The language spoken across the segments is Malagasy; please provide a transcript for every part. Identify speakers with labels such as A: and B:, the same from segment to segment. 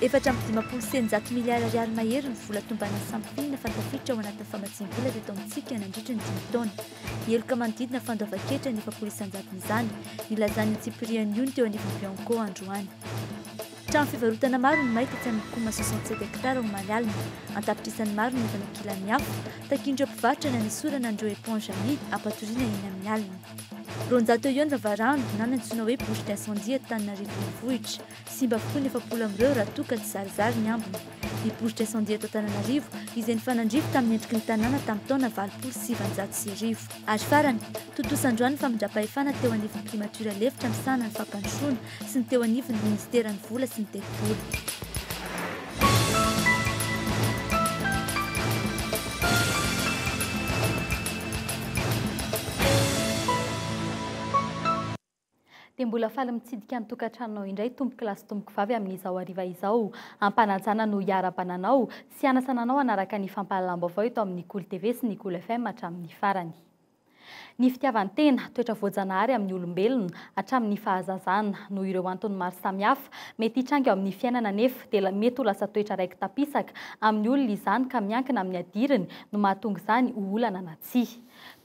A: Efatra amby dimampolo sy eninjato miliara ariary mahery ny vola tomban'ny sampina fantafitra ao anatin'ny famatsiam-bola avy eto amintsika nandritra ny dimy taona. Heloka manodidina fandoavan-ketra ny efapolo isanjaton'izany, nilazan'ny tsipirian'ny ony teo anivon'ny Bianco androany. Trano fivarotana maro no may tetsy amin'ny coma soixante sept hectares omaly alina. An-tapitrisany maro no efa nankilan'ny afo. Takian'ireo mpivarotra na ny sora na ny ireo éponge amidy hampatoriana eny amin'ny alina. Roanjato eo ihany vavarano na ny antsoina hoe bouche d'incendie eto Antananarivo Renivohitra. Simba avokoa ny efapolo amin'ireo raha toa ka tsizarizary ny ambiny. Ny bouche d'incendie eto Antananarivo izay nifanandrify tamin'ny endriky ny tanàna tamin'ny taona valopolo sy sivinjato sy arivo. Ary farany, Tontosan-droa ny famindram-pahefana teo anivon'ny Primatiora lefitra misahana ny fampandrosoana sy ny teo anivon'ny Minisiteran'ny Vola sy ny Tetibola. Dia mbola faly mitsidika ny tokantranonao indray tompokolahy sy tompokovavy amin'izao hariva izao. Ampanajana no hiarabana anao sy hanasana anao hanaraka ny fampahalalam-baovao eto amin'ny Kolo TV sy ny Kolo FM hatramin'ny farany. Ny fitiavan-tena, toetra voajanahary amin'ny olombelona hatramin'ny fahazazana. Noho ireo antony maro samihafa mety hitranga eo amin'ny fiainana anefa dia mety ho lasa toetra raiki-tampisaka amin'ny olona izany ka miankina amin'ny adiriny no mahatonga izany ho olana na tsia.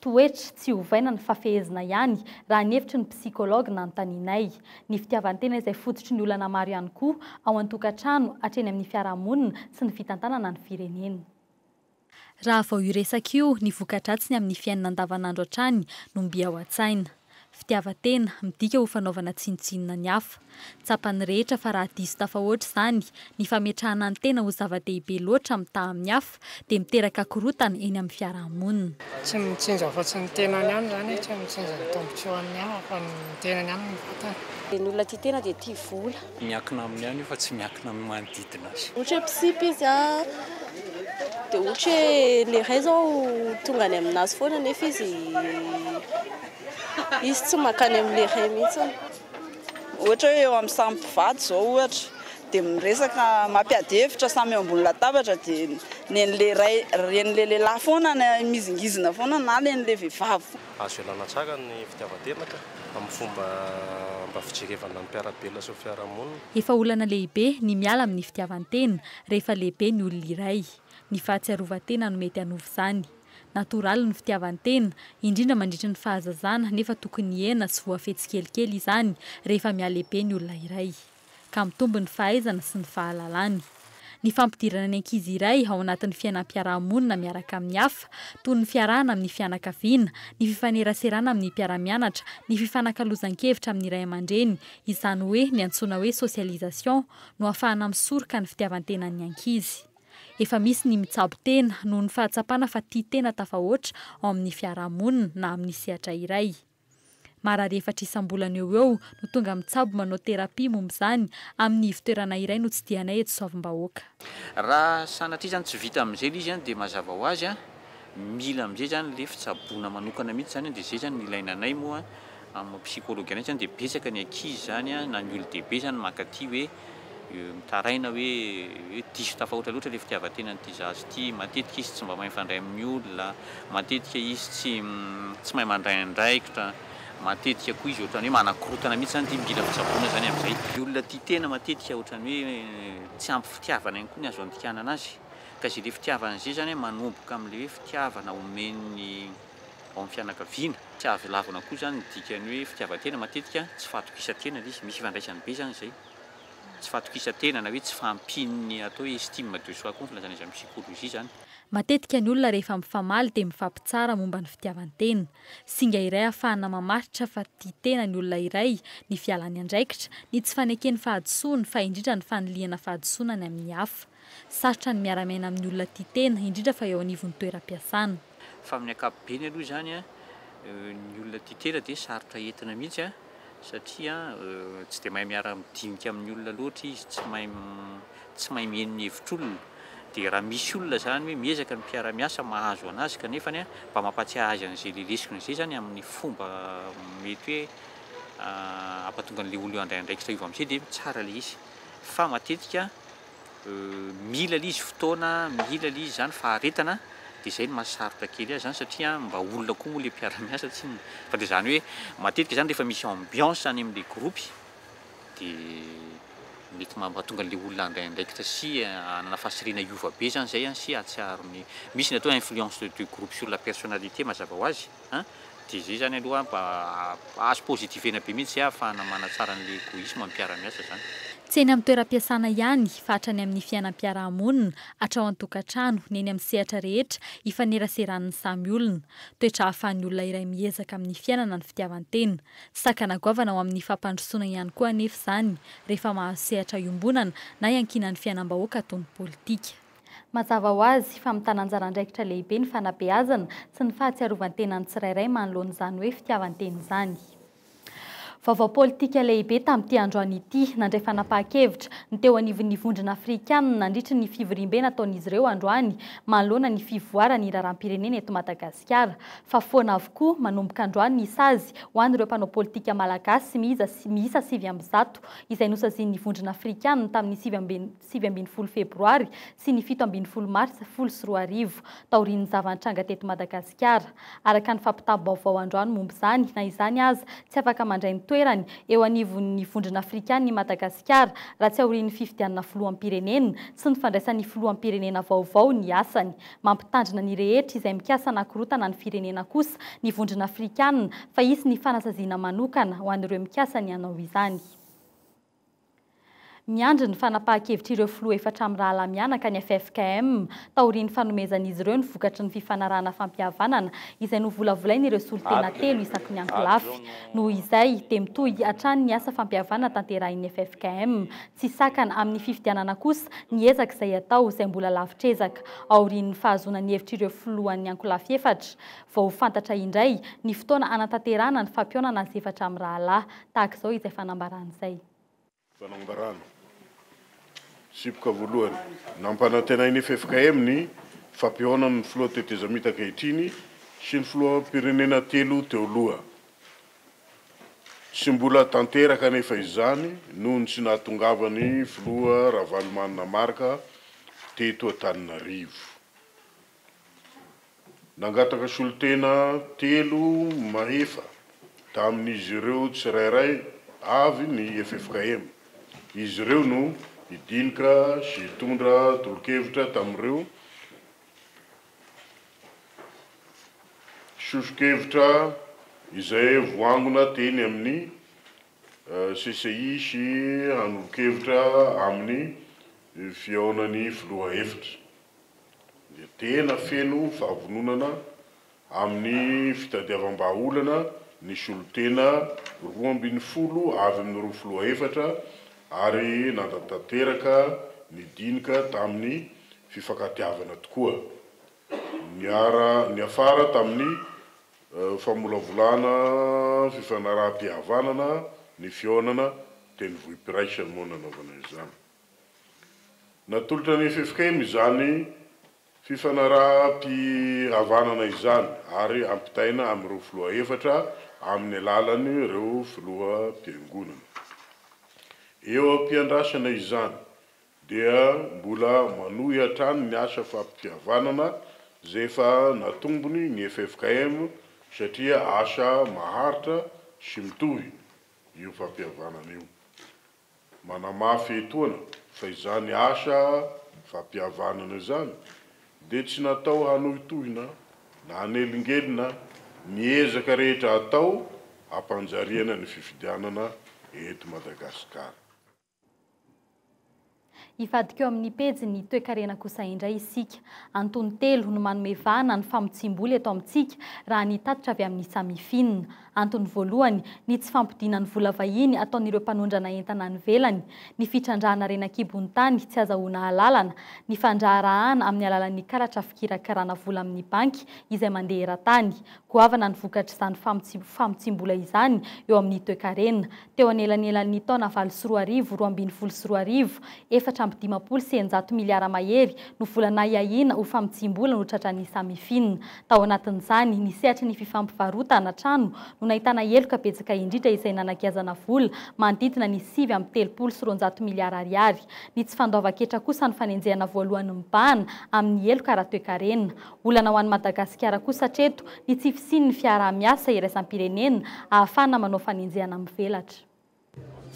A: Toetra tsy ovaina ny fafehezina ihany, raha ny hevitry ny psychologue nanontanianay. Ny fitiavan-tena izay fototry ny olana maro ihany koa, ao an-tokantrano, hatreny amin'ny fiarahamonina sy ny fitantanana ny firenena. Raha vao io resaka io, ny voka-dratsiny amin'ny fiainana andavanandro hatrany no mby ao an-tsaina. Fitiavan-tena, midika ho fanaovana tsinontsinona ny hafa. Tsapan'ny rehetra fa raha diso tafahoatra izany, ny fametrahana ny tena ho zava-dehibe loatra mitaha amin'ny hafa, dia miteraka korontana eny amin'ny fiarahamonina. Tsy ny mitsinjo
B: afa-tsy ny tenany ihany izany hoe tsy mitsinjo ny tombontsoan'ny hafa fa ny tenany ihany no vatany. Ny olona tia tena
C: dia tia vola. Miankina aminy ihany io
D: fa tsy miankina amin'ny manodidina azy. Ohatra hoe mpisipy izy a,
C: dia ohatra hoe le ray zao tonga any aminazy foana nefa izy izy tsy mankany amle ray mihitsiny.
E: Ohatra hoe eo amin'ny samy mpivady zao ohatra dia miresaka mampiady hevitra samy eo ambony latabatra dia nenle ray, renle lehilahy foana mizingizina foana na renle vehivavy foana. Azo ialana tsara
F: ny fitiavan-tena ka, amin'ny fomba mba fijerevana ny mpiara-belona sy ny fiarahamonina. Efa olana lehibe
A: ny miala amin'ny fitiavan-tena rehefa lehibe ny olona iray. Ny fahatsiarovan-tena no mety hanova izany. Natoraly ny fitiavan-tena, indrindra mandritra ny fahazazana nefa tokony hihena sy voafetsy kelikely izany rehefa mihalehibe ny olona iray. ka mitombo ny fahaizany sy ny fahalalany. Ny fampidirana ny ankizy iray ao anatin'ny fiainam-piaraha-monina miaraka amin'ny hafa, toy ny fiarahana amin'ny fianakaviana, ny fifaneraserana amin'ny mpiara-mianatra, ny fifanakalozan-kevitra amin'ny ray aman-dreny, izany hoe ny antsoina hoe socialisation, no ahafahana misoroka ny fitiavan-tenan'ny ankizy. Efa misy ny mitsabo tena noho ny fahatsapana fa tia tena tafahoatra ao amin'ny fiaraha-monina na amin'ny sehatra iray. Marary efatra isam-bolana eo ho eo no tonga mitsabo manao thérapie momba izany amin'ny ivo-toerana iray notsidihanay eto Soavimbahôka. Raha
D: sanatria izany tsy vita amin'izay ilay izy dia mazava ho azy mila amin'izay izany ilay fitsaboana manokana mihitsy izany dia izay izany no ilaina anay moa amin'ny psychologue anay izany dia betsaka ny ankizy izany na ny olon-dehibe izany mankaty hoe Mitaraina hoe diso tafahoatra loatra ilay fitiavan-tena an'ity zaza ity, matetika izy tsy mba mahay mifandray amin'ny olona, matetika izy tsy tsy mahay mandray andraikitra, matetika koa izy ohatran'ny hoe manakorotana mihitsy izany ity mila fitsaboana izany amin'izay. Ny olona tia tena matetika ohatran'ny hoe tsy ampy fitiavana ihany koa ny azo andikana anazy ka izay le fitiavana izay izany manomboka amin'ilay hoe fitiavana omen'ny Ao amin'ny fianakaviana, tsy azo lavina koa izany ny dikan'ny hoe fitiavan-tena. Matetika tsy fahatokisan-tena ilay izy, misy ifandraisany be izany izay. Tsy fahatokisan-tena na hoe tsy fahampian'ny atao hoe estime de soi koa ny filazana izany amin'ny psychologie izany. Matetika ny olona
A: rehefa mifamaly dia mifampitsara momba ny fitiavan-tena. Singa iray ahafahana mamaritra fa tia tena ny olona iray ny fialany andraikitra, ny tsy fanekeny fahadisoany fa indrindra ny fanilihana fahadisoana ny amin'ny hafa. Sarotra ny miara-miaina amin'ny olona tia tena, indrindra fa eo anivon'ny toeram-piasana. Fa amin'ny
D: ankapobeny aloha izany ny olona tia tena dia sarotra entina mihitsy satria tsy dia mahay miara-midinika amin'ny olona loatra izy, tsy mahay tsy mahay mihaino ny hevitr'olona. Dia raha misy olona izany hoe miezaka ny mpiara-miasa mahazo an'azy kanefa mba mampatsiahy azy an'izay le lesona izay izany amin'ny fomba mety hoe hampatonga an'ilay olona io handray andraikitra io avy amin'izay dia tsara ilay izy. Fa matetika Mila le izy fotoana, mila le izy zany faharetana de zay no mahasarotra kely azy zany satria mba olona koa moa le mpiara-miasa tsinona fa de zany hoe matetika zany rehefa misy ambiance any amle gropy de mety mahatonga anle olona handray andraikitra sy hanana fahasirihana hiova be zany zay sy hahatsiaro ny misy ny atao hoe influence de groupe sur la personnalité mazava ho azy. An! Dia izay izany aloha mba azo positifena be mihitsy izay hahafahana manatsara an'ilay egoisma amin'ny mpiara-miasa izany. Tsy eny amin'ny
A: toeram-piasana ihany fa hatrany amin'ny fiainam-piaraha-monina, hatrao an-tokantrano, ny eny amin'ny sehatra rehetra ifaneraseran'ny samy olona. Toetra ahafahan'ny olona iray miezaka amin'ny fiainana ny fitiavan-tena. Tsy sakana goavana ho amin'ny fampandrosoana ihany koa anefa izany rehefa mahazo sehatra iombonana na iankinan'ny fiainam-bahoaka toy ny politika. Mazava ho azy fa mitana anjara andraikitra lehibe ny fanabeazana sy ny fahatsiarovan-tena ny tsirairay manoloana izany hoe fitiavan-tena izany. Vaovao politika lehibe tamin'ity androany ity, nandray fanapahan-kevitra, ny teo anivon'ny Vondrona Afrikanina nandritry ny fivoriambe nataon'izy ireo androany manoloana ny fivoaran'ny raharaham-pirenena eto Madagasikara, fa foana avokoa manomboka androany ny sazy ho an'ireo mpanao politika malagasy miisa sivy amby zato izay nosazian'ny Vondrona Afrikanina tamin'ny sivy amby sivy ambin'ny folo febroary sy ny fito ambin'ny folo marsa folo sy roa arivo, taorian'ny zava-nitranga teto Madagasikara. Araka ny fampitam-baovao androany momba izany, na izany aza, tsy afaka mandray ny toerany eo anivon'ny Vondrona Afrikana i Madagasikara raha tsy aorian'ny fifidianana filoham-pirenena sy ny fandraisan'ny filoham-pirenena vaovao ny asany. Mampitandrina ny rehetra izay mikasa hanakorotana ny firenena kosa ny Vondrona Afrikana fa hisy ny fanasaziana manokana ho an'ireo mikasa ny hanao izany. Miandry ny fanapahan-kevitr'ireo filoha efatra mirahalahy mianaka ny ffkm, taorian'ny fanomezan'izy ireo ny vokatry ny fifanarahana fampihavanana izay novolavolain'ireo solontena telo isaky ny ankolafy. Noho izay, dia mitohy hatrany ny asa fampihavanana tanterahin'ny ffkm. Tsy sakana amin'ny fifidianana kosa ny ezaka izay atao izay mbola lavitr'ezaka. Aorian'ny fahazoana ny hevitr'ireo filohan'ny ankolafy efatra, vao ho fantatra indray ny fotoana hanatanterahana ny fampihaonana azy efatra mirahalahy, Tahaka izao izay fanambarana izay. Fanambarana.
G: Sipoka voalohany. Nampanantenain'ny ffkm ny fampihaonan'ny filoha tetezamita ankehitriny sy ny filoham-pirenena telo teo loha. Tsy mbola tanteraka anefa izany noho ny tsy nahatongavan'ny filoha Ravalomanana Marc teto Antananarivo. Nangataka solontena telo mahefa tamin'izy ireo tsirairay avy ny ffkm. Izy ireo no hidinika sy hitondra tolokevitra tamin'ireo sosokevitra izay voangona teny amin'ny. CCI sy hanolo-kevitra amin'ny fihaonan'ny filoha hevitra, dia tena feno fahavononana amin'ny fitadiavam-bahaolana ny solontena roa ambin'ny folo avy amin'ireo filoha efatra ary nanatanteraka ny dinika tamin'ny fifankatiavana tokoa. Niara-niafara tamin'ny Famolavolana fifanaraham-pihavanana ny fihaonana teny Vohipiraika no nanaovana izany. Natolotra ny ffkm izany fifanaraham-pihavanana izany ary ampitaina amin'ireo filoha efatra amin'ny alalan'ireo filoham-piangonana. Eo am-piandrasana izany dia mbola manohy hatrany ny asa fampitiavanana izay efa natombony ny ffkm satria asa maharitra sy mitohy io fampihavanana io. Manamafy etoana fa izany asa fampihavanana izany dia tsy natao hanohitohina na hanelingelina ny ezaka rehetra atao hampanjariana ny fifidianana eto Madagasikara.
A: Hivadika eo amin'ny pejin'ny toekarena kosa indray isika. Antony telo no manome vahana ny famotsiam-bola eto amintsika, raha ny tatitra avy amin'ny Samifin. Antony voalohany, ny tsy fampodiana ny vola vahiny ataon'ireo mpanondrana entana any ivelany, ny fitrandrahana reny an-kibon'ny tany tsy azahoana alalana, ny fandraharahana amin'ny alalan'ny karatra fikirakirana vola amin'ny banky izay mandeha eran-tany. Goavana ny vokatr'izany famotsiam-bola izany eo amin'ny toekarena. teo anelanelan'ny taona valo sy roa arivo, roa ambin'ny folo sy roa arivo, efatra amby dimampolo sy eninjato miliara mahery no vola nahiahiana ho famotsiam-bola notratran'ny Samifin. Tao anatin'izany, ny sehatry ny fifampivarotan na trano no nahitana heloka betsaka indrindra izay nanagiazana vola manodidina ny sivy amby telopolo sy roanjato miliara ariary. Ny tsy fandoavan-ketra kosa no fanenjehana voalohany mibahana amin'ny heloka ara-toekarena. Olana ho an'i Madagasikara kosa hatreto ny tsy fisian'ny fiaraha-miasa iraisam-pirenena ahafahana manao fanenjehana mivelatra.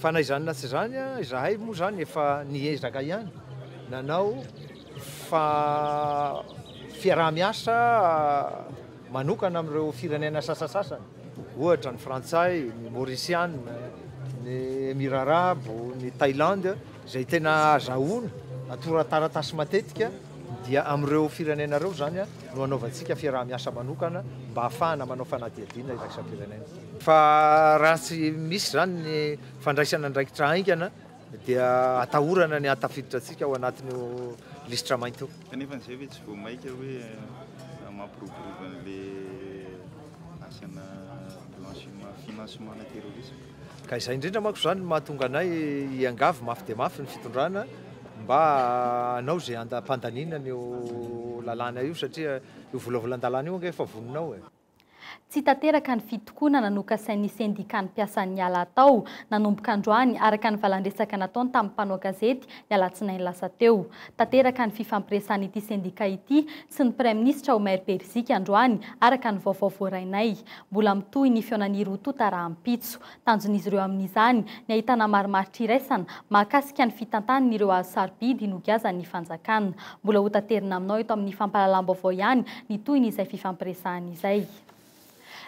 A: Fa
H: na izany na tsy izany, izahay moa izany efa niezaka ihany nanao fa fiaraha-miasa manokana amin'ireo firenena sasasasany, ohatra ny Frantsay, ny Maurisiana, ny Emirara Arabo, ny Thailand, izay tena azahoana tora-taratasy matetika. dia amin'ireo firenena ireo izany no hanaovantsika fiaraha-miasa manokana mba hahafahana manao fanadihadiana iraisam-pirenena. Fa raha tsy misy izany ny fandraisana andraikitra haingana dia atahorana ny hahatafiditra antsika ao anatin'io lisitra mainty io. Kanefa an'izay ve tsy vao
I: mainka hoe mampiroborobo an'ilay asana blanchiment, financement-na terrorisme? Ka izay indrindra
H: manko izany no mahatonga anay hiangavy mafy dia mafy ny fitondrana mba hanao izay handam-pandaniana an'io lalàna io satria io volavolan-dalàna io ange efa vonona ao e. Tsy tanteraka
A: ny fitokonana nokasain'ny sendikàn'ny mpiasan'ny ala hatao nanomboka androany araka ny valan-dresaka nataony tamin'ny mpanao gazety ny alatsinainy lasa teo. Tanteraka ny fifampiresahan'ity sendikà ity sy ny Praiminisitra ao Maire-Berizika androany, araka ny vaovao voarainay. Mbola mitohy ny fihaonan'Irututa rahampitso. Tanjon'izy ireo amin'izany, ny ahitana marimaritra iraisana, mahakasika ny fitantanan'ireo hazo sarobidy nogiazan'ny fanjakana. Mbola hotaterina aminao eto amin'ny fampahalalam-baovao ihany ny tohin'izay fifampiresahana izay.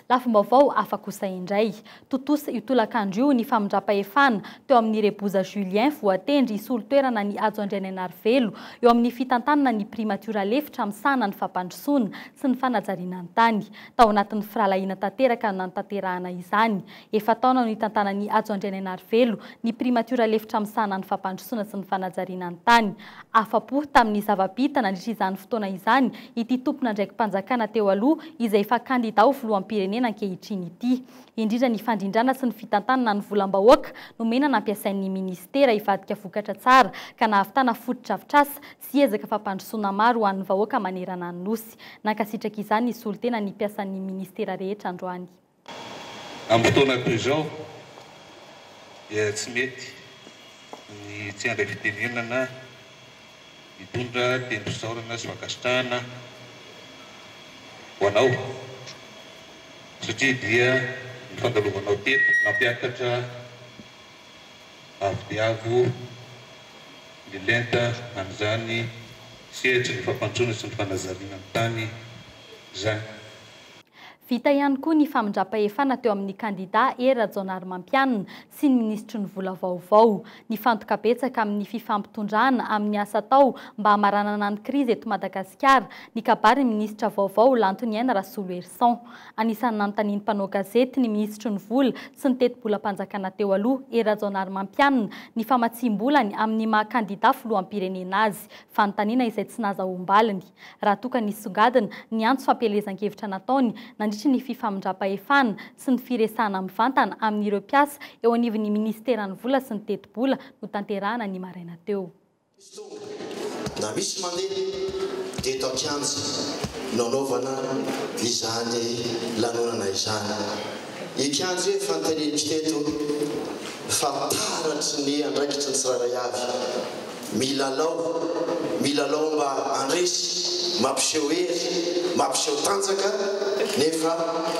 A: Lafim-baovao hafa kosa indray. Tontosa io tolakandro io ny famindram-pahefana teo amin'ny Reboza Julien voatendry hisolo toerana an'i Hajo Andrianainarivelo eo amin'ny fitantanana ny primatiora lefitra misahana ny fampandrosoana sy ny fanajariana ny tany. Tao anatin'ny firahalahiana tanteraka no nanatanterahana izany. Efa-taona no nitantanan'i Hajo Andrianainarivelo, ny primatiora lefitra misahana ny fampandrosoana sy ny fanajariana ny tany. Afa-po tamin'ny zava-bita nandritra izany fotoana izany ity tompon'andraiki-panjakana teo aloha izay efa kandida ho filoham-pirenena ankehitriny ity. Indrindra ny fandrindrana sy ny fitantanana ny volam-bahoaka nomena nampiasain'ny minisitera hivadika vokatra tsara ka nahavitana fotodrafitrasa sy ezaka fampandrosoana maro ho an'ny vahoaka manerana ny Nosy. Nankasitraka izany ny solontena ny mpiasan'ny minisitera rehetra androany.
J: Amin'ny fotoana toy izao dia tsy mety ny tsy handray fitenenana na hitondra tendrom-pisaorana sy fankasitrahana ho anao satria dia ny fandalovanao teto nampiakatra avo dia avo ny lenta an'izany sehatry ny fampandrosoana sy ny fanazariana ny tany izany.
A: Vita ihany koa ny famindram-pahefana teo amin'ny kandidà Hery Rajaonarimampianina sy ny minisitry ny Vola vaovao. Nifantoka betsaka amin'ny fifampitondrana amin'ny asa atao mba hamaranana ny krizy eto Madagasikara ny kabarin'ny minisitra vaovao Lantoniaina Rasoloherison. Anisan'ny nanontanian'ny mpanao gazety ny minisitry ny Vola sy ny tetibolam-panjakana teo aloha, Hery Rajaonarimampianina, ny famatsiam-bolany amin'ny maha kandidà filoham-pirenena azy, fanontaniana izay tsy nazahoam-baliny. raha toa ka nisongadina ny antso fampielezan-kevitra nataony nandritry ny fifamindram-pahefana sy ny firesahana mivantana amin'ireo mpiasa eo anivon'ny minisiteran'ny Vola sy ny Tetibola notanterahana ny maraina teo. Misy tonga
K: na misy mandeha dia eto an-kianja no nanaovana izany lanonana izany. Ny kianja io efa notenenintsika eto fa taratry ny andraikitry ny tsirairay avy. Milalao, milalao mba handresy, mampiseho hery, mampiseho tanjaka, nefa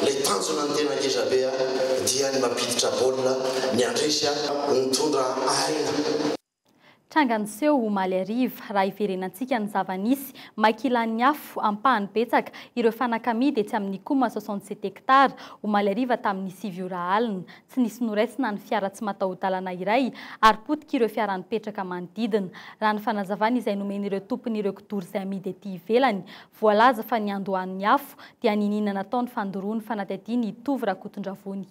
K: ilay tanjona no tena ngeza be a! dia ny mampiditra baolina, ny handresy a! ny mitondra aina.
A: Tranga niseho omaly hariva. Raha hiverenantsika ny zava-nisy, may kilan'ny afo, ampahany betsaka, ireo fanaka amidy etsy amin'ny Cuma soixante sept hectares, omaly hariva tamin'ny sivy ora alina. tsy nisy noraisina ny fiara tsy mataho-dalana iray ary potika ireo fiara nipetraka manodidina. Raha ny fanazavana izay nomen'ireo tompon'ireo kidoro izay amidy ety ivelany, voalaza fa niandohan'ny afo dia niniana natao ny fandoroan'ny fanadihadiana i Tovo Rakotondravony.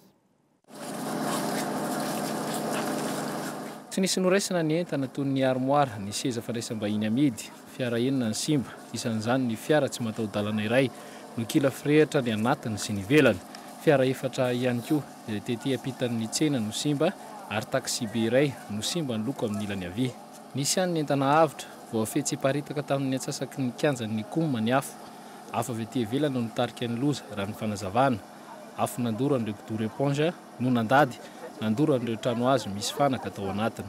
L: Tsy nisy noraisina ny entana toy ny armoara, ny seza fandraisam-bahiny amidy. Fiara enina ny simba, isan'izany ny fiara tsy mataho-dalana iray. Nokila firehitra ny anatiny sy ny ivelany. Fiara efatra ihany koa izay tety ampitan'ny tsena no simba ary taxi-be iray no simba ny loko amin'ny ilany havia. Nisy ihany ny entana avotra. Voafehy tsy hiparitaka tamin'ny antsasaky ny kianjan'ny Cuma ny afo. Afo avy aty ivelany no nitarika ny loza, raha ny fanazavana. Afo nandoran'ireo kidoro eponza no nandady, nandoran'ireo trano hazo misy fanaka tao anatiny.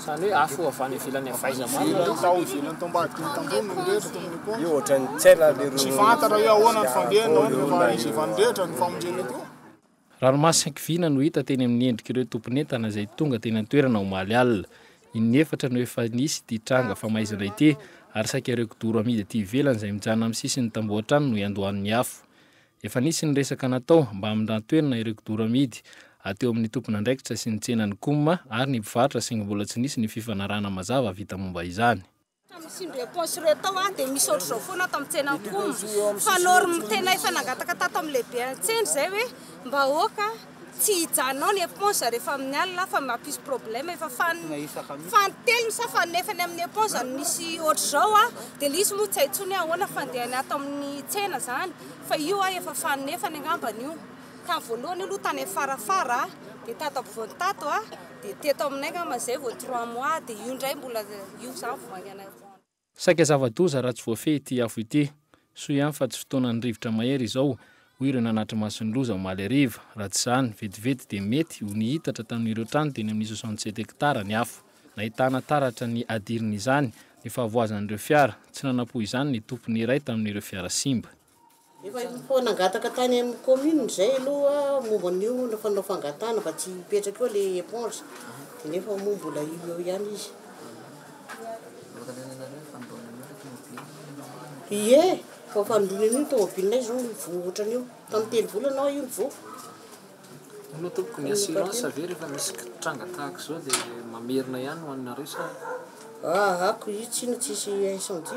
M: Izany
L: hoe afo avy any ivelany avy aiza marina aloha? Tao ivelany tao ambadikiny
M: tamboho no mirehitra tao amin'ny pont. Io ohatran'ny tsy hay lahy
N: leroa. Tsy fantatra hoe ahoana
M: ny fandehany, ahoana ny fahaizevany rehetra ny famonjena etoa. Ranomasin-kiviana
L: no hita teny amin'ny endrik'ireo tompon'entana izay tonga teny an-toerana omaly alina. Inefatra no efa nisy ity tranga famaizana ity ary saika ireo kidoro amidy aty ivelany izay mijanona amin'ny sisin'ny tamboho hatrany no iandohan'ny afo. Efa nisy ny resaka natao mba hamindran-toerana ireo kidoro amidy ateo amin'ny tompon'andraikitra sy ny tsenan'ny Cum ary ny mpivarotra saingy mbola tsy nisy ny fifanarahana mazava vita momba izany. Tamin'izireo
O: paosy ireo tao aho dia nisy ohatr'izao foana tao amin'ny tsenan'ny Cum fa norme tena efa nangataka tato amin'ny lehiben'ny tsena izay hoe mba aoka. Tsy hijanao ny eponza rehefa amin'ny alina fa mampisy problème efa fan fantelony sa fanefany amin'ny eponza no misy ohatr'izao a dia ilay izy moa tsy hay tsony ahoana fandehany ato amin'ny tsena zany fa io a efa fanefany angambany io tany voalohany aloha tany amin'ny farafara dia tato ampovoany tato a dia teto aminay angamba zay vao trois mois dia io indray mbola io zany vao haingana Saika
L: zava-doza raha tsy voafehy ity afo ity. Soa ihany fa tsy fotoanan'ny rivotra mahery izao, hoy ireo nanatry ny masin'ny loza omaly hariva. Raha tsy izany, vetivety dia mety ho nihitatra tamin'ireo trano teny amin'ny soixante sept hectares ny afo. Nahitana taratra ny adirin'izany ny fahavoazan'ireo fiara. Tsy nanampo izany ny tompony iray tamin'ireo fiara simba. Efa efa
P: nangataka tany amin'ny commune izay aloha momba an'io fanao fangatahana mba tsy hipetraka eo ilay éponge dia nefa moa mbola eo eo ihany izy. Ie, efa fanindroany an'io ny tômôbilinay izao ny voa ohatran'io. Tamin'ny telo volana hoa io ny voa. Hono
L: tompoko ny assurance ve rehefa misy tranga tahaka izao dia mamerina ihany ho anareo sa? Ahako io tsiny
P: tsisy incendie.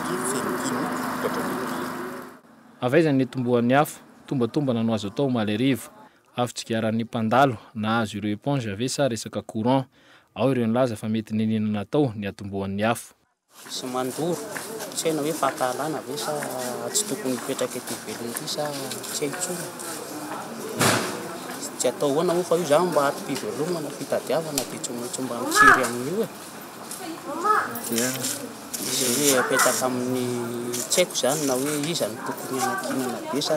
Q: dia feno kiana vokatra ny biby.
L: Avy aiza ny nitomboan'ny afo tombatombana no azo atao omaly hariva? Afo tsigaran'ny mpandalo nahazo ireo éponge ve sa resaka courant? Ao ireo nilaza fa mety niniana natao ny hatombohan'ny afo. Izy mandoro,
P: tsy hay na hoe fahatahalana ve sa tsy tokony hipetraka ity velona ity sa tsy hay intsony. Tsy atao ahoana moa fa io izany mba ato-pivelomana, fitadiavana dia tsy maintsy mba mitsiry an'io e! dia izay hoe apetaka amin'ny tsy haiko izany na hoe iza no tokony hanankinana be sa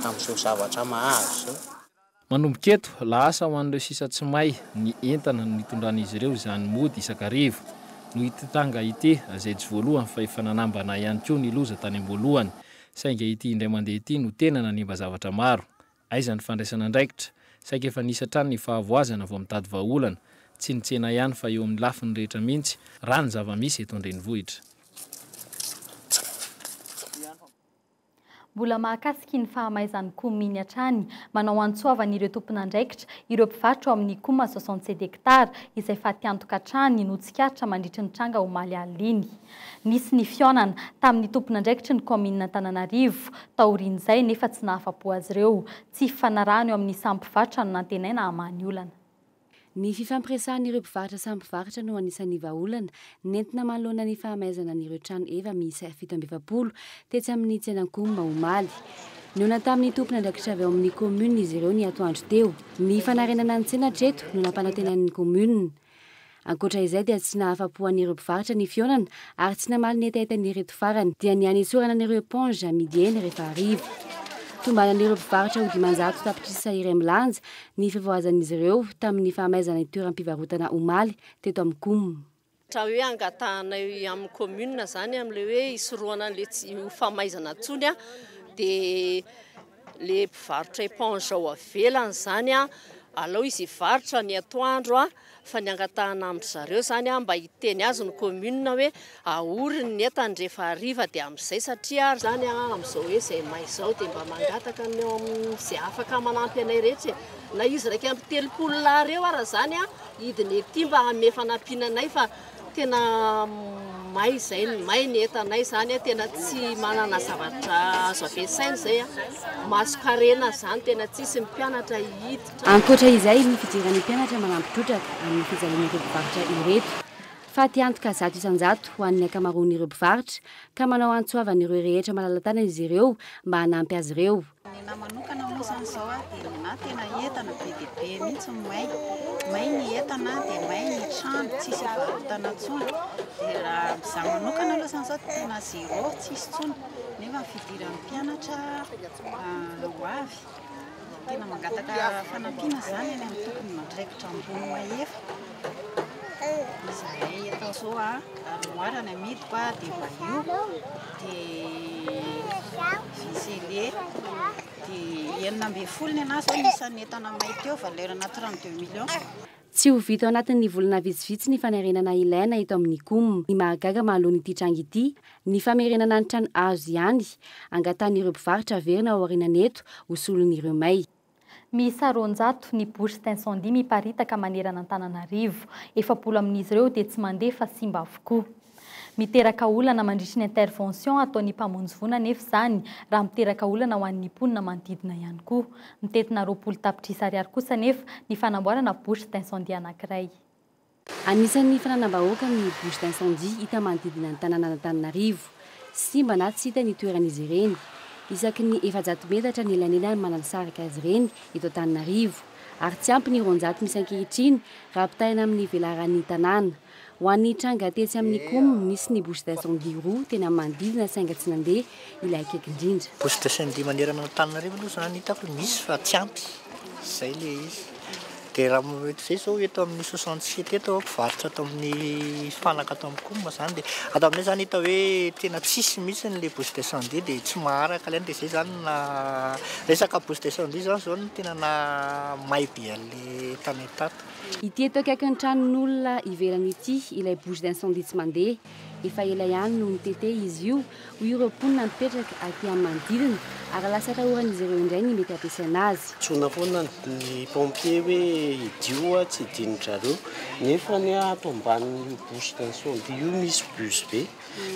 P: amin'izao zavatra mahazo izao. Manomboka eto,
L: lasa ho an'ireo sisa tsy may ny entana nitondran'izy ireo izany mody isan-karivo. Noho ity tranga ity, zaijo voalohany fa efa nanambana ihany koa ny loza tany am-boalohany, saingy ity indray mandeha ity no tena nanimba zavatra maro. Aiza ny fandraisana andraikitra? Saika efa nisy hatrany ny fahavoazana vao mitady vahaolana, tsy ny tsena ihany fa eo amin'ny lafiny rehetra mihitsy, raha ny zava-misy eto an-drenivohitra.
A: Mbola mahakasika iny fahamaizan'ny Coum iny hatrany, manao hantsoavana ireo tompon'andraikitra, ireo mpivarotra ao amin'ny Coum soixante sept hectares izay fatiantoka hatrany no tsikaritra mandritry ny tranga omaly alina iny. Nisy ny fihaonana tamin'ny tompon'andraikitry ny kaominin'Antananarivo taorian'izay nefa tsy nahafa-po azy ireo. Tsy hifanarahana eo amin'ny samy mpivarotra no nantenaina hamaha ny olana. Ny
R: fifampiresahan'ireo mpivarotra samy mpivarotra no anisan'ny vahaolana nentina manoloana ny fahamaizana an'ireo trano eva miisa fito amby efapolo tetsy amin'ny tsenankomma omaly. Nihaona tamin'ny tompon'andraikitra avy ao amin'ny kaominina izy ireo ny atoandro teo. Ny fanarenana ny tsena hatreto no nampanantenain'ny kaominina. Ankoatra izay dia tsy nahafa-po an'ireo mpivarotra ny fihaonana ary tsy namaly ny hetaheta an'ireto farany dia ny hanetsorana an'ireo éponge amidy eny rehefa hariva. Tombanan'ireo mpivarotra ho dimanjato tapitrisa iray milanja ny fivoazan'izy ireo tamin'ny fahamaizana ny toeram-pivarotana omaly teto amin'ny coum. Raha hoe
C: angatahanay amin'ny commune izany amin'ilay hoe hisorohana an'ilay tsy ho fahamaizana intsony dia. le mpivarotra éponge ao avelany zany a alao izy hivarotra ny atoandro a fa ny angatahana amin-dry zareo zany a mba hiteny azy ny commune hoe ahoriny ny entany rehefa hariva dia amin'izay satria zany a amin'izao hoe izay may izao dia mba mangataka ny ao amin'izay afaka manampy anay rehetra e na izy iraika amby telopolo lahy ireo ara zany a hidiny ety mba hanome fanampiana anay fa tena may izay, may ny entanay izany, tena tsy manana zavatra azo ampiasaina izay, masonkarena izany tena tsy hisy, ny mpianatra hiditra. Ankoatra izay, ny
R: fijery ny mpianatra manampy trotraka amin'ny fijalian'ireo mpivarotra ireto fa te hantoka zato isan-jato ho an'ny ankamaroan'ireo mpivarotra ka manao antsoavan'ireo rehetra malala-tanana izy ireo mba hanampy azy ireo. Ny ahy manokana
N: moa izany izao a, dia ny ahy tena entana be dia be mihitsy ny may. May ny entana, dia may ny trano, tsisy hivarotana intsony. Dia raha amin'ny izaho manokana aloha izany izao dia tena zéro, tsisy intsony. Nefa ny fidiran'ny mpianatra ho avy, tena mangataka fanampiana izany any amin'ny tomponandraikitra ambony mahefa. Izahay eto Anjou a, armoire ny amidiko a, dia bahut. Tsy ho vita
R: ao anatin'ny volana vitsivitsy ny fanarenana ilaina eto amin'ny coum. Ny mahagaga mahaloana ity tranga ity, ny famerenana ny trano azo ihany, angatahan'ireo mpivarotra haverina ao aorianan'eto ho solon'ireo may. Miisa
A: roanjato ny bouches d'incendie miparitaka manerana Antananarivo. Efapolo amin'izy ireo dia tsy mandeha fa simba avokoa. Miteraka olana mandritry ny intervention ataon'ny mpamonjy voina anefa izany raha miteraka olana ho an'ny mponina manodidina ihany koa. Mitentina roapolo tapitrisa ariary kosa anefa ny fanamboarana bouche d'incendie anankiray. Anisan'ny
R: fananam-bahoaka ny bouches d'incendie hita manodidina ny tanànan'Antananarivo. Simba na tsy hita ny toeran'izy ireny. Isaky ny efajato metatra ny elanelany manansaraka azy ireny eto Antananarivo. Ary tsy ampy ny roanjato misy ankehitriny raha ampitahaina amin'ny velaran'ny tanàna. Ho an'ny tranga tetsy amin'ny Coum, nisy ny bouches d'incendie roa teny amin'ny manodidina sainga tsy nandeha ilay akaiky indrindra. Poste de syndic manerana
S: an'Antananarivo aloha zany hitako hoe misy fa tsy ampy, zay le izy. De raha m- eto zay zao eto amin'ny soixante sept eto aho mpivarotra ato amin'ny fanaka ato amin'ny com zany de ato aminay zany hita hoe tena tsisy mihitsiny le bouche d'incendie de tsy maharaka le any de zay zany na resaka bouche d'incendie zany zao no tena na may be an'le tanay tato. Ity eto akaikin'ny
R: tranon'olona ivelany ity ilay bouche d'incendie tsy mandeha. Efa ela ihany no nitete izy io, hoy ireo mponina mipetraka aty amin'ny manodidina, ary lasa atahoran'izy ireo indray ny mety hampiasaina azy. Antsoina foana
T: ny pompier hoe hidio ho'a tsy hidin'ny zareo, nefa ny ahy ato ambanin'io bouche d'incendie io misy bus be,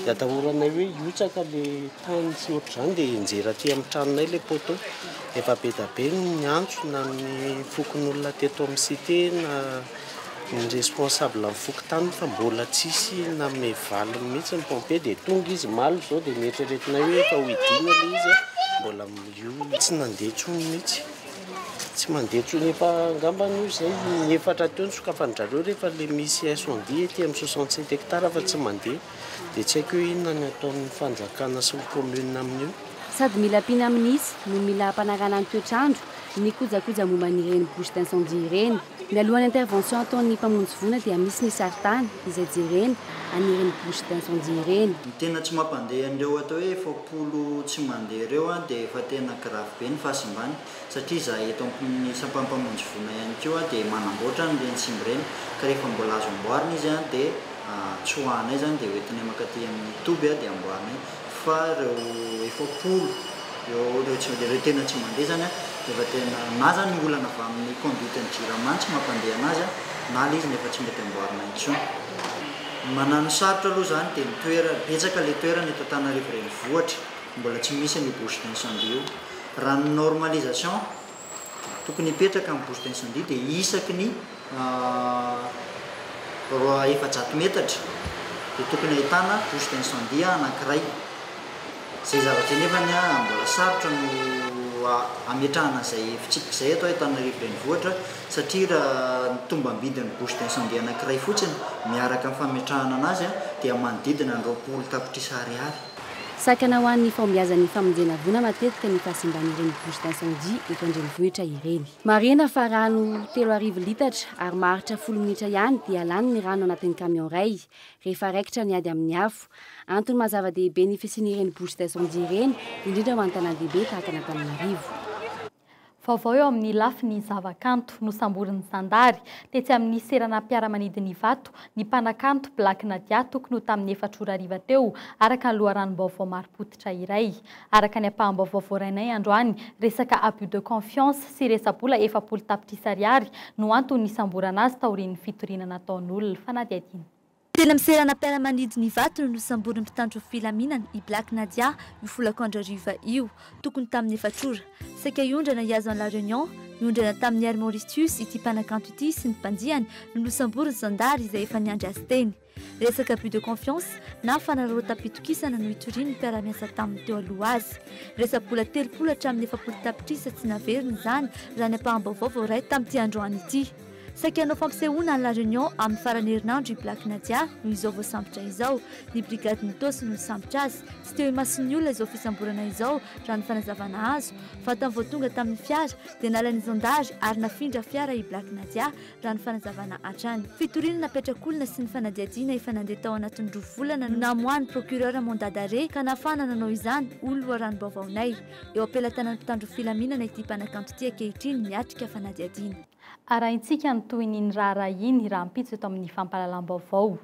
T: dia atahoranay hoe hihotsaka le tany sy ohatr'izany dia hianjera aty amin'ny tranonay le poteau, efa be da be ny niantso na ny fokonolona teto amin'ny cite na. Ny responsable ny fokontany fa mbola tsisy nanome valiny mihitsy ny pompier dia tonga izy omaly izao dia neritreretinay hoe efa ho hidiana ilay izy a, mbola io tsy nandeha intsony mihitsy, tsy mandeha intsony efa angambany hoy izay ny efatra teo nosokafanin-dRareo rehefa ilay misy incendie ety amin'ny soixante sept hectares fa tsy mandeha dia tsy haiko hoe inona ny ataon'ny fanjakana sy ny commune amin'io. Sady mila
R: mpinamnisy no mila hampanarahana ny toetr'andro ny kojakoja momba an'ireny bouche d'incendie ireny. Mialoha ny intervention ataon'ny mpamonjy voina dia misy ny saritany izay jerena an'ireny bouche d'incendie ireny. Ny tena tsy mampandeha
U: an'ireo atao hoe efapolo tsy mandeha ireo dia efa tena grave be ny fahasimbany satria izahay eto amin'ny sampan'ny mpamonjy voina ihany koa dia manamboatra an'ireny simba ireny ka rehefa mbola azo amboarina izy dia tsoahanay izany dia hoentinay mankaty amin'ny toby dia amboarinay Fa ireo efapolo eo ireo tsy mandeha, ireo tena tsy mandeha izany dia efa tena na izany ny olana avy amin'ny conduite ny jirama tsy mampandeha an'azy na ilay izy no efa tsy mety amboarina intsony. Ny mananosarotra aloha izany dia ny toerana, betsaka ilay toerana eto Antananarivo renivohitra mbola tsy misy an'io bouche d'incendie io. Raha ny normalisation. Tokony hipetraka amin'ny bouche d'incendie dia isaky ny roa efajato metatra dia tokony ahitana bouche d'incendie anankiray. Izay zavatra izay nefany mbola sarotra no hametrahana izay fitsipika izay eto Antananarivo Renivohitra satria raha ny tombam-bidin'ny bouche d'incendie anankiray fotsiny miaraka amin'ny fametrahana anazy dia manodidina ny roapolo tapitrisa ariary. Sakana ho an'ny
R: fahombiazan'ny famonjena voina matetika ny fahasimban'ireny bouches d'incendie eto an-drenivohitra ireny. Marihina fa rano telo arivo litatra ary maharitra folo minitra ihany dia lany ny rano anatin'ny camion iray rehefa raikitra ny ady amin'ny afo. Antony maha zava-dehibe ny fisian'ireny bouches d'incendie ireny, indrindra ho an'ny tanàn-dehibe tahaka an'Antananarivo. Vaovao
A: eo amin'ny lafiny zavakanto, nosamborin'ny zandary, tetsy amin'ny seranam-piaramanidina Ivato, ny mpanakanto Black Nadia tokony ho tamin'ny efatra ora hariva teo, araka ny loharanom-baovao marim-pototra iray. Araka ny ampaham-baovao voarainay androany, resaka abus de confiance sy resa-bola efapolo tapitrisa ariary no anton'ny nisamborana azy taorian'ny fitoriana nataon'olona fanadihadiana. Teny
B: seranam-piaramanidin' Ivato no nosamborin'ny mpitandro ny filaminana i Black Nadia io folakandro hariva io, tokony tamin'ny efatra ora. Saika hiondrana hihazo an'i La Réunion, niondrana tamin'i Air Mauritius ity mpanakanto ity sy ny mpandiany no nosamborin'ny zandary izay efa niandry azy teny. Resaka abus de confiance na fanararaotam-pitokisana no itorian'ny mpiara-miasa taminy teo aloha azy. Resa-bola telopolo hatramin'ny efapolo tapitrisa tsy naverina izany raha ny ampaham-baovao voaray tamin'ity androany ity. Saika hanao fampisehoana any La Réunion amin'ny faran'ny herinandro i Black Nadia no izao voasambotra izao. Ny brigadin'i Itaosy no nisambotra azy. Tsy teo imason'ny olona izao fisamborana izao, raha ny fanazavana azo. Vatany vao tonga tamin'ny fiara, dia nalan'ny zandary ary nafindra fiara i Black Nadia, raha ny fanazavana hatrany. Fitoriana napetrak'olona sy ny fanadihadiana efa nandeha tao anatin'ny roa volana no namoahan'ny procureur mandat d'arrêt ka nahafahana nanao izany, hoy ny loharanom-baovaonay. Eo am-pelatanan'ny mpitandro filaminana ity mpanakanto ity ankehitriny miatrika fanadihadiana. Arahintsika
A: ny tohin'iny raharaha iny rahampitso eto amin'ny fampahalalam-baovao.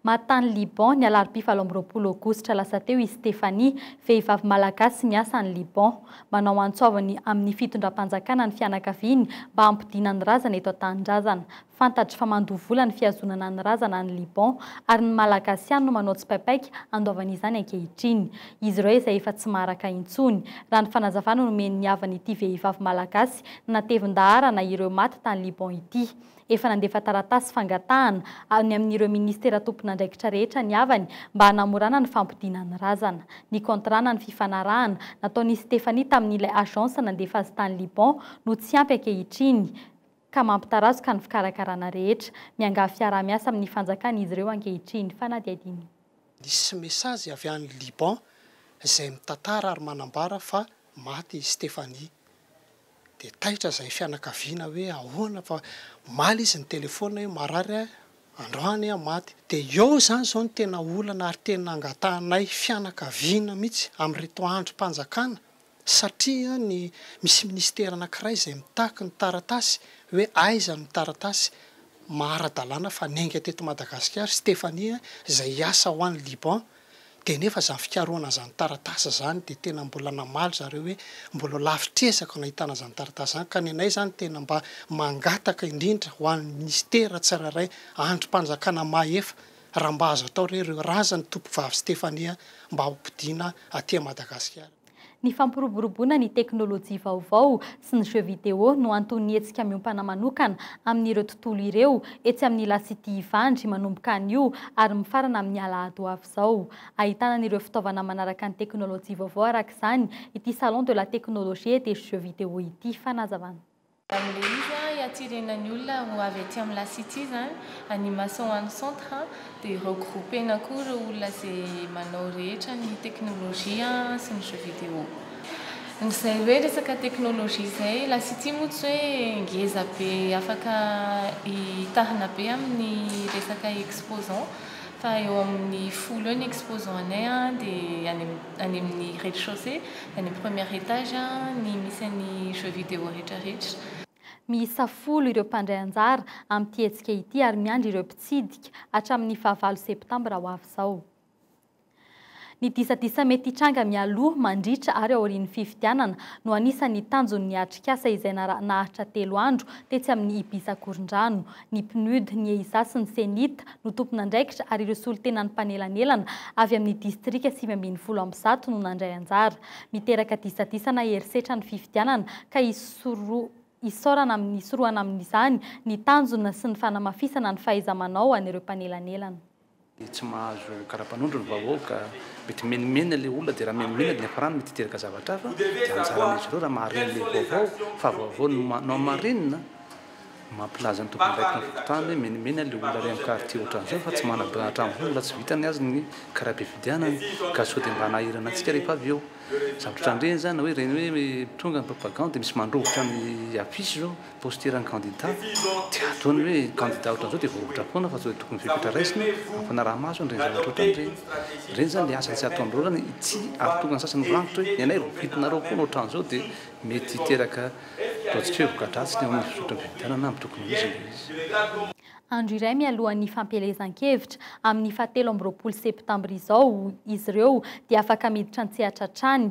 A: Maty tany Liban, ny alarobia valo amby roapolo aogositra lasa teo i Stéphanie, vehivavy malagasy miasa any Liban. Manao antso avo ny amin'ny fitondram-panjakana ny fianakaviany mba hampodiana ny razana eto an-tanindrazana. Fantatry fa mandoa vola ny fihazonana ny razana any Liban ary ny Malagasy ihany no manao tsipaipaika handoavana izany ankehitriny. Izy ireo izay efa tsy maharaka intsony, raha ny fanazavana nomen'ny havan'ity vehivavy malagasy natevin-daharana ireo maty tany Liban ity. Efa nandefa taratasy fangatahana any amin'ireo minisitera tompon'andraikitra rehetra ny havany mba hanamorana ny fampodiana ny razana. Ny contrana ny fifanarahana nataon'i Stéphanie tamin'ilay agence nandefa azy tany Liban no tsy ampy ankehitriny ka mampitarazoka ny fikarakarana rehetra. Miangavy fiaraha-miasa amin'ny fanjakana izy ireo ankehitriny. Fanadihadiana. Nisy
V: mesazy avy any Liban izay mitantara ary manambara fa maty i Stephanie. Dia taitra izay fianakaviana hoe ahoana fa omaly izy nitelefona hoe marary aho, androany aho maty. Dia eo izany izao no tena olana ary tena angatahanay fianakaviana mihitsy amin'ireto andrim-panjakana. satria ny misy ministera anankiray izay mitaky ny taratasy hoe aiza ny taratasy maha ara-dalàna fa niainga teto Madagasikara i Stéphanie izay hiasa ho any Liban dia nefa izany fikarohana izany taratasy izany dia tena mbola namaly zareo hoe mbola lavitr'ezaka no ahitana izany taratasy izany ka ny anay izany tena mba mangataka indrindra ho an'ny ministera tsirairay andrim-panjakana mahefa raha mba azo atao re ireo razan'ny tompovavy Stéphanie mba hopodiana aty Madagasikara. Ny
A: fampiroboroboana ny teknolojia vaovao sy ny jeux vidéo no anton'ny hetsika miompana manokana amin'ireo tontolo ireo etsy amin'ny La City Ivandry manomboka anio ary mifarana amin'ny alahady ho avy izao. Ahitana an'ireo fitaovana manaraka ny teknolojia vaovao araka izany ity Salon de la Technologie et des Jeux Vidéo ity. Fanazavana. Amin'ilay izy
W: hiatsirenan'ny olona ho avy aty amin'ny La City izany, any Mason any centre dia regrouper-na koa ireo olona izay manao rehetra ny teknolojia sy ny jeux vidéo. Izay hoe resaka teknolojia izay, La City moa tsy hoe ngeza be afaka hitahana be amin'ny resaka exposants fa eo amin'ny folo eo ny exposants-nay dia any amin'ny. any amin'ny rez-de-chaussée, any amin'ny premier étage ny misy an'ny jeux vidéo rehetrarehetra. Miisa
A: folo ireo mpandray anjara amin'ity hetsika ity ary miandry ireo mpitsidika hatramin'ny fahavalo septambra ho avy izao. Ny disadisa mety hitranga mialoha, mandritra ary aorian'ny fifidianana no anisan'ny tanjon'ny atrikasa izay nara-nahatra telo andro tetsy amin'ny Ibis Akorondrano, ny PNUD, ny EISA sy ny CENIT no tompon'andraikitra ary ireo solontenan'ny mpanelanelana avy amin'ny distrika sivy ambin'ny folo amby zato no nandray anjara. Miteraka disadisa na herisetra ny fifidianana ka isaorana amin'ny hisorohana amin'izany ny tanjona sy ny fanamafisana ny fahaiza-manao an'ireo mpanelanelana. dia tsy
X: mahazo karapanondro ny vahoaka, mety mimenimeny ilay olona dia raha mimenimeny dia ny hafarana mety hiteraka zavatra hafa, dia anjaran'izy ireo raha mahareny ilay vaovao fa vaovao no ma- no hamarinina, mampilaza ny tompon'andraikitra ny fokontany hoe mimenimeny ilay olona ary amin'ny quartier ohatran'izao fa tsy manam-bola hatramin'izao no mbola tsy vitany azy ny kara-pifidianana ka sao dia mba hanahirana antsika rehefa avy eo, zavatra ohatran'ireny izany na hoe ireny hoe tonga ny propagande dia misy mandrovitra ny affiche izao. Posture ny kandida, dia ataony hoe kandida ohatran'izao dia voavotra foana fa tsy hoe tokony fepetra raisina, ampanaraha-maso an'ireny zavatra ohatran'ireny ireny. Ireny izany ilay asany tsy ataon'ireo orana, ity ary tokony ny sasany ho rangitra hoe ny anay voafitinareo foana ohatran'izao dia mety hiteraka ataontsika hoe voka-dratsy ny eo amin'ny fizotry ny fifidianana amin'ny tokony ho izy ilay izy. Andro iray
A: mialohan'ny fampielezan-kevitra, amin'ny fahatelo amby roapolo septambra izao, izy ireo dia afaka miditra an-tsehatra hatrany,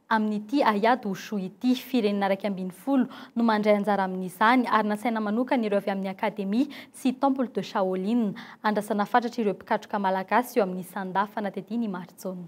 A: amin'ity Hayat Wushu ity. Firenena iraika ambin'ny folo no mandray anjara amin'izany, ary nasaina manokana ireo avy amin'ny Académie sy Temple de Shaolin. Andrasana fatratra ireo mpikatroka malagasy eo amin'ny Sanda fanatediana i Marijaona.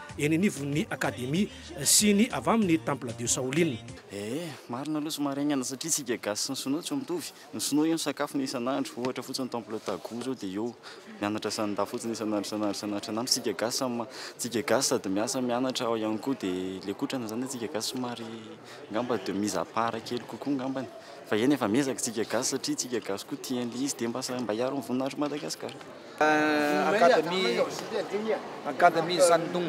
D: eny anivon'ny Akademia sy ny avy amin'ny Temple de Shaolin. Ee, marina
E: aloha somary haingana satria tsika gasy sy ny sinoa tsy mitovy. Ny sinoa io ny sakafony isan'andro, ohatra fotsiny Temple Tagu zao dia eo mianatra sanida fotsiny isan'andro isan'andro isan'andro isan'andro. Tsika gasy samy ma, tsika gasy sady miasa mianatra ao ihany koa dia le kotrana zany tsika gasy somary ngamba de mise à part kely kokoa ngambany. Fa eny efa miezaka tsika gasy satria tsika gasy koa tia an'le izy dia mba sa, mba hiaro ny voninahitry Madagascar.
F: Akademia Shandong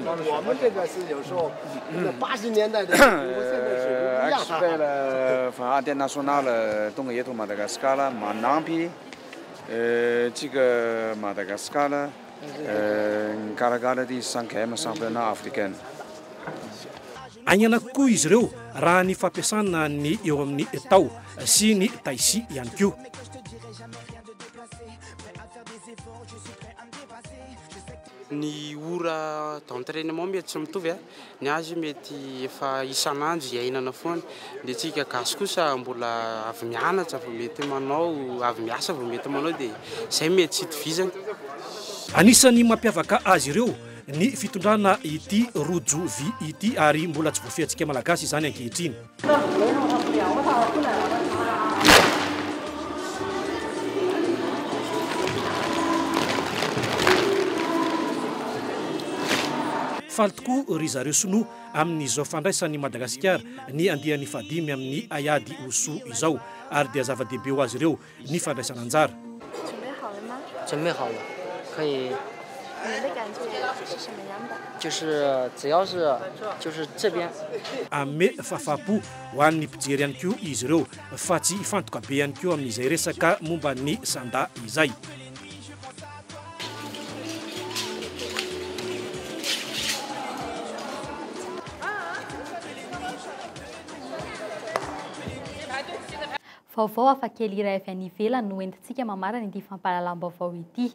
F: Expert international tonga eto Madagascar manampy antsika Madagascar mikarakara ity cinquième championnat africaine.
D: Aingana kokoa izy ireo raha ny fampiasana ny eo amin'ny Tao sy ny Taixi ihany koa.
G: Ny ora d'entrainement mety tsy mitovy, ny azy mety efa isan'andro iainana foana, ny antsika gasy kosa mbola avy mianatra vao mety manao, avy miasa vao mety manao dia izay mety tsy itovizany. Anisan'ny
D: mampiavaka azy ireo ny fitondrana ity Rojo vy ity ary mbola tsy voafehintsika Malagasy izany ankehitriny. Faly tokoa ry zareo sinoa amin'izao fandraisan'i Madagasikara ny andiany fahadimy amin'ny haiady Wushu izao ary dia zava-dehibe ho azy ireo ny fandraisana anjara. Hanome fahafahampo ho an'ny mpijery ihany koa izy ireo fa tsy hifantoka be ihany koa amin'izay resaka momba ny sanda izay.
A: Vaovao hafakely iray avy any ivelany no entintsika mamarana ity fampahalalam-baovao ity.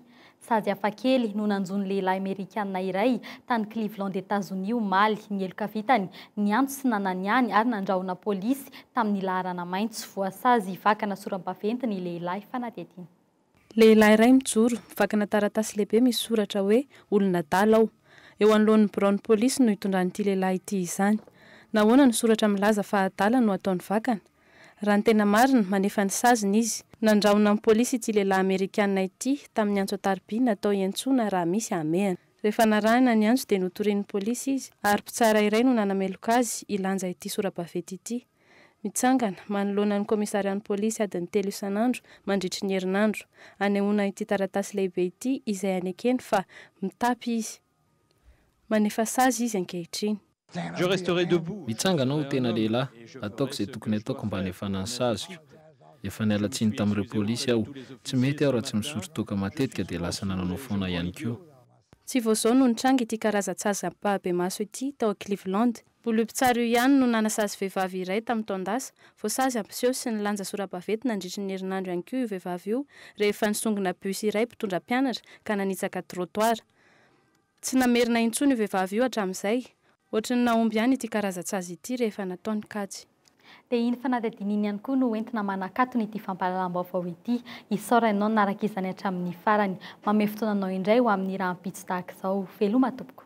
A: Sady hafakely no nanjo ny lehilahy Merikanina iray tany Cleveland Etazonia omaly, ny heloka vitany, niantso sy nananiany ary nandrahona polisy tamin'ny laharana maitso, voasazy vakana sora-baventy ny lehilahy fanadihadiana. Lehilahy
Y: iray mijoro, vakina taratasy lehibe misy soratra hoe olon'adala aho. Eo anoloan'ny biraon'ny polisy no itondran'ity lehilahy ity izany. Nahoana no soratra milaza fa adala no ataony vakana? Raha ny tena marina, manefa ny saziny izy. Nandrahona ny polisy ity lehilahy Amerikana ity tamin'ny antso an-tariby natao hiantsoana raha misy hamehana. Rehefa narahina ny antso dia notorian'ny polisy izy ary mpitsara iray no nanameloka azy hilanja ity sora-baventy ity. Mitsangana, manoloana ny kaomisarian'ny polisy adiny telo isan'andro mandritry ny herinandro. Anehoana ity taratasy lehibe ity izay anekeny fa mitapy izy. Manefa sazy izy ankehitriny. Je resterai
L: debout. Mitsangana aho ho tena lehilahy, ataoko izay tokony ataoko mba hanefana ny saziko. Efa niala tsiny tamin'ireo polisy aho. Tsy mety aho raha tsy mizory toaka matetika dia lasa nananao foana ihany koa. Tsy vao
Y: izao no nitranga ity karazan-tsazam-pahabemaso ity tao Cleveland. Bolompitsara io ihany no nanasazy vehivavy iray tamin'ny taon-dasa. Voasazy hampiseho sy nilanja sora-baventy nandritry ny herinandro ihany koa io vehivavy io rehefa nisongona bus iray mpitondra mpianatra ka nanitsaka trottoir. Tsy namerina intsony io vehivavy io hatramin'izay. Ohatry ny nahomby ihany ity karazan-tsazy ity rehefa natao ny kajy. Dia iny
A: fanadihadiana iny ihany koa no entina manakatona ity fampahalalam-baovao ity. Hisaora ianao nanaraka izany hatramin'ny farany. Mamehy fotoana anao indray ho amin'ny rahampitso tahaka izao. Veloma tompoko.